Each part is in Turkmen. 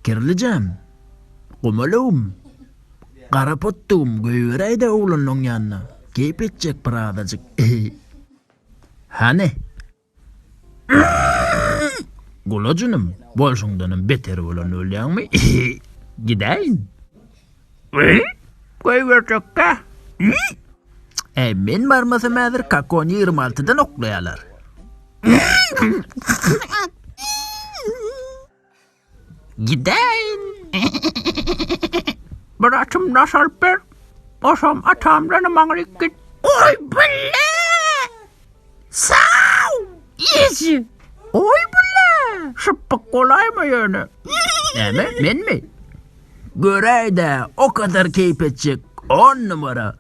Kirlijem, gumalagym, gara potdugym goýberäý-de oglanyň ýanyna, keýp etjek bir azajyk. Hany. Gulajynym, bolşuňdanam beter bolan bolýaňmy? Gidäýin. Goýberjek-dä. Äý, men barmasam häzir kakony ýigrimi altydan oklaýarlar. Gidäýin. Bir atym naş alyp ber. Oşam atamdan maňryk git. Goý, bile! Saw! Eji! Goý bula! Şypbyk bolaýma ýöne. Näme, menmi? Göräý-dä, o kadar keýp etjek, on numara!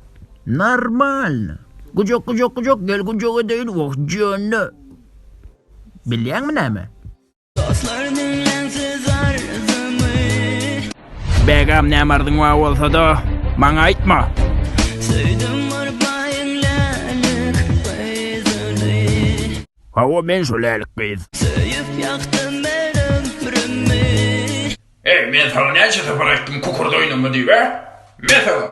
Normalno! Gujak, gujak, gujak, gel gujak edeýin, wah, jöne! Bilýäňmi näme? Begam näme arzyň bar bolsada maňa aýtma. Hawa men şu lälik gyz. Söýüp ýakdym men ömrümi. Eý men saňa näçe sapar aýtdym kukurda oýnama diýip hä? Mesela.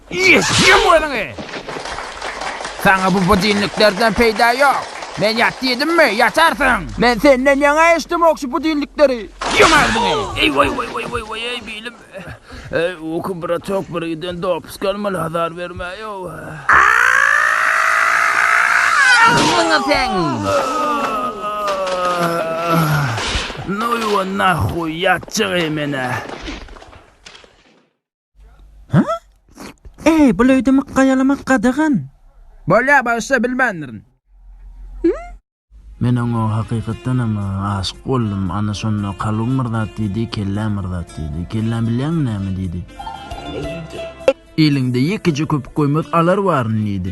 Eşşem özüňi! Saňa bu budilniklerden peýda ýok. Men ýat diýdimmi, ýatarsyň! Men senden ýaňa eşdemok şu budilnikleri! Ýum agzyňy! Eý, waý, waý, waý, waý, waý, eý, bilim! Eý, uky, bratok, birgiden dopysk almaly, azar bermäý-ow! Agzyňy seň! Noýwa nahuý, ýatjak-eý men-ä! Ha? Eý, bu löýdi mykga ýalamak gadagan. Bolýar, bagşy, bilmändirin. Men oňa hakykatdanam aşyk boldum. Ana şonda kalbym bir zat diýdi, kelläm bir zat diýdi. Kelläm bilýäňmi näme diýdi? Eliňde ýekeje köpük goýmaz alar baryn diýdi.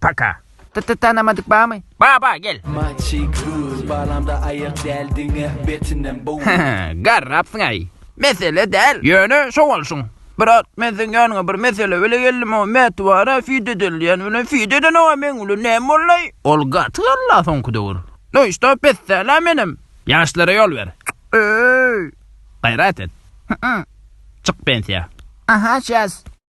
Paka. T-t tanamadyk bamy? Ba ba gel. Maçy kuz balamda aýak däl diňe betinem bu. Garrapsyňaý. Mesele däl. Ýöne şo bolşuň. Brat men seň ýanyňa bir mesele bile geldim o mätwara feed edilýän bilen feed eden oa meň bilen näme bollaý. Ol gaty galla soňky döwür. No işte pessäla menem. Ýaşlara ýol ber. Öööy. Gaýrat et. Hyýýy. Çyk pensiýa. Aha şäs.